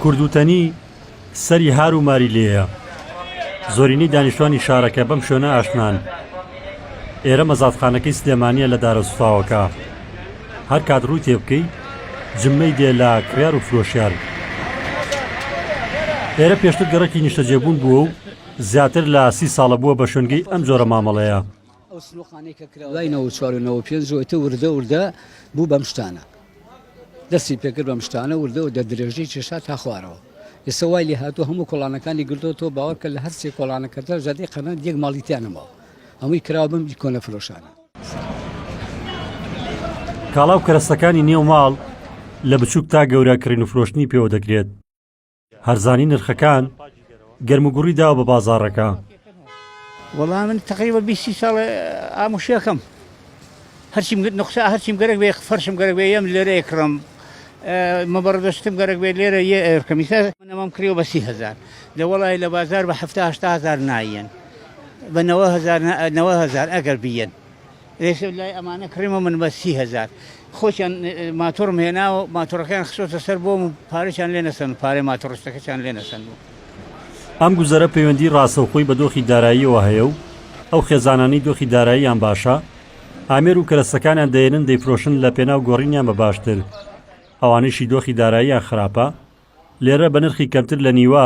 کوردوتەنی سەری هار و ماری لێیە زۆرینەی دانیشتوانی شارەکە بەم شوێنە ئاشنان ئێرە مەزادخانەکەی سلێمانە لە دارە سوتاوەکە هەر کات ڕووی تێ بکەی جممەی دێ لە کڕار و فرۆشیار ئێرە پێشتر گەڕەکی نیشتەجێبوون بووە و زیاتر لە سی ساڵە بووە بە شوێنگەی ئەم جۆرە مامەڵەیە ئەو سنوقانەی کە کرا دوای نەوە چوار و نەوە پێنج وتە وردە وردە بوو بەم شتانە دەستی پێکرد بەم شتانە وردە و دە درێژەی کێشا تا خوارەوە ئێستا وای لێ هاتوو هەموو کۆڵانەکانی گردۆ تۆ باوەکە لە هەرسێ کۆڵانەکەدا زادی قەنات یەک ماڵیتیانەمەوە هەمووی کراوە بم کۆنە فرۆشانە کاڵا و کەرەستەکانی نێو ماڵ لە بچووک تا گەورە کڕین و فرۆشتنی پێوە دەکرێت هەرزانی نرخەکان گەرموگوڕی داوە بە بازاڕەکە. وەڵا من تەقریبا بیست سی ساڵە ئام وشەکەم هەرچیم گرت نقصا هەرچیم گەرەک بێ فەرشم گەرەک بێ یەم لێرە ئەکڕم مەبەڕدەشتم گەرەک بێ لێرە یە ئەرکەم ئیستا منەمام کریەوە بە سی هەزار لە وەڵای لە بازار بە هەفتا هەشتا هەزار نایەن بە نەوە هەزار نەوە هەزار ئەگەر بیەن ئێسە لای ئەمانە کڕیمە من بە سی هەزار خۆچیان ماتۆڕم هێناوە ماتۆڕەکەیان خسۆتە سەر بۆم و پارەچان لێ نەسەن و پارەی ماتۆڕستەکەچان لێ نەسەن بوو. ئەم گوزەرە پەیوەندی ڕاستەوخۆی بە دۆخی داراییەوە هەیە و ئەو خێزانانەی دۆخی داراییان باشە ئامێر و کەرەستەکانیان دەیەنن دەیفرۆشن لە پێناو گۆڕینیان بە باشتر ئەوانەیشی دۆخی داراییان خراپە لێرە بە نرخی کەمتر لە نیوە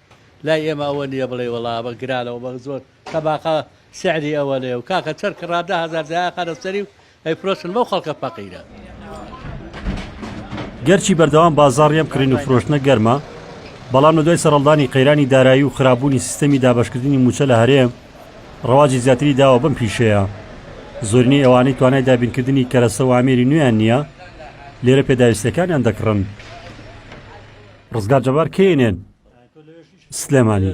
لای ئێمە ئەوە نیە بڵێی وەڵا ئەمە گرانە و مە زۆر تەباقە سعری ئەوەنێ و کاکە چەر کڕا دە هەزار جیا خەرە سەری و ئەی فرۆشن بەو خەڵکە فەقیرە. گەرچی بەردەوام بازاڕی ئەم کڕین و فرۆشتنە گەرمە، بەڵام لە دوای سەرەڵدانی قەیرانی دارایی و خراپبوونی سیستەمی دابەشکردنی مووچە لە هەرێم، ڕەواجی زیاتری داوە بەم پیشەیە. زۆرینەی ئەوانەی توانای دابینکردنی کەرەسە و ئامێری نوێیان نییە، لێرە پێداویستییەکانیان دەکڕن. ڕزگار جەبار کەی نێن سلێمانی.